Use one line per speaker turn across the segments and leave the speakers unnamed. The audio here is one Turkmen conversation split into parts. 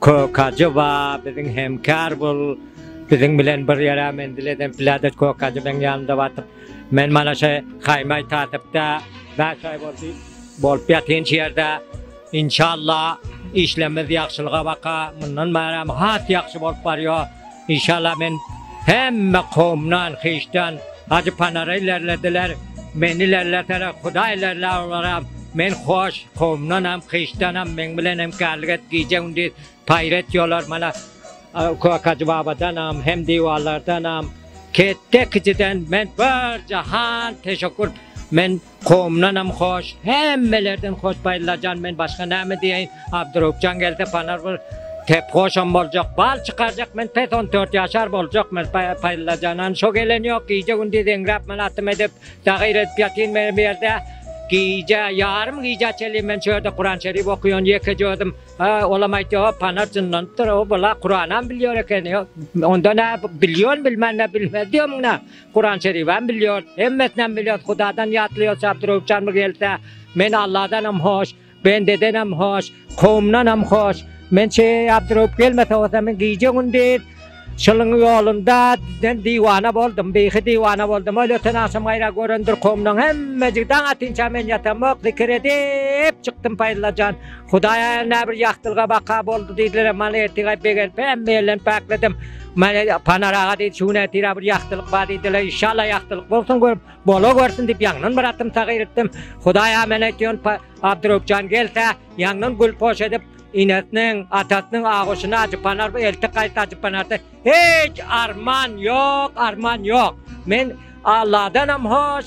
Kökaji ba biziň hemkar bul biziň bilen bir ýere menzil eden piladet kökaji meň ýanymda batyp men mana şe haýmaý tatypda bäş aý boldy bolup ýatyn şu ýerde inşallah işlemiz ýagşylyga baka mundan bäram has ýagşy bolup barýo Inşallah men hemme komdan hiçden Hajy Panara ilerlediler meni ilerleseler Hudaý ilerlär olaram men hoş komdanam hiçdanam meň bilen hem kärlik et gije gündiz paýr et ýolar mana Köýük Hajy babadanam hem diwarlardanam ketde kijiden men bir jahan teşekkür men Komdanam hoş, hemmelerden hoş Baýllajan men başga näme diýeýin, Abdyröwüpjan gelse panar bir tep hoşam boljak, bal çykarjak men pes on dört ýaşar boljak men Paýllajanan şo gelen ýok gije gündiz eňräp men atym edip dagyr edip ýatyn men bu ýerde gije ýarym gije çenli men şu ýerde Kuran şerif okyan ýekeje özüm ha olam aýtýa hop panar jynlanypdyr o bula Kuranam bilýär eken onda nä bilýän bilmän nä bilmez diýemiň nä. Kuran şeribem bilýos, hemmesinem bilýos, Hudadan ýatlaýos, Şapturawçanmy gelse, men Alladanam hoş, bendedenem hoş, kowumdanam hoş, men Şapturawup gelmese bolsa men gije-gündiz şylyň ýolunda diýen diwana boldum, beýhi diwana boldum, ol öten agşam gaýra görendir kowumdan hemmejik daň atynça men ýatamok, zikir edip çykdym Paýyllajan. Hudaý aýal näbir ýagtylyga baka boldy diýdiler, Manetika begenip hemme ýerlerini päkledim. Mane Panar aga diýdi, şu gün ertira bir ýagtylyk bar diýdiler, inşallah ýagtylyk bolsun görüp, bola görsin diýip ýaňdan bir atym taýyr etdim. Hudaý aga men aýtýan Abdyröwpjan gelse, ýaňdan gül poş edip, inesiniň, atasynyň agoşyny Ajy Panar elti gaýt Ajy Panarda hiç arman ýok, arman ýok. Men Alladanam hoş,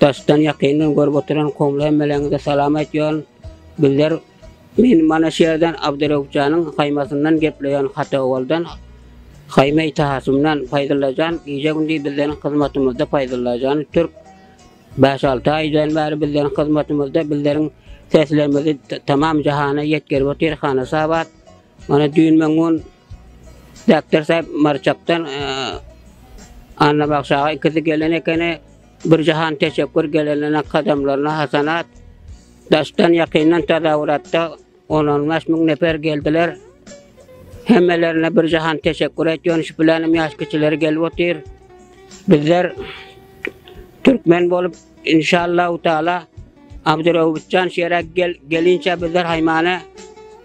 Daşdan ýakyndan görüp oturan komly hemmeleriňize salam aýtýaryn. Bizler men mana şu ýerden Abdyreupjanyň haýmasyndan gepleýän Hata owaldan haýma itahatymdan Paýdyllajan gije gündiz bizleriň hyzmatymyzda Paýdyllajan türk bäş alty aýdan bäri bizleriň hyzmatymyzda bizleriň seslerimizi tamam jahana ýetgerip otyr Hanasabat Mana düýn men gun Däpder sähep Marçakdan Annabagşy aga ikisi gelen ekeni. Bir jahan teşekkür gelenlerine kadamlaryna hasanat. Daşdan ýakyndan tazawuratda 10-15 müň nefer geldiler. Hemmelerine bir jahan teşekkür etýän şu bilenim ýaş kiçileri gelip otyr. Bizler türkmen bolup inşallah taala Abdurrahman Şerak gel gelinçe bizler haymana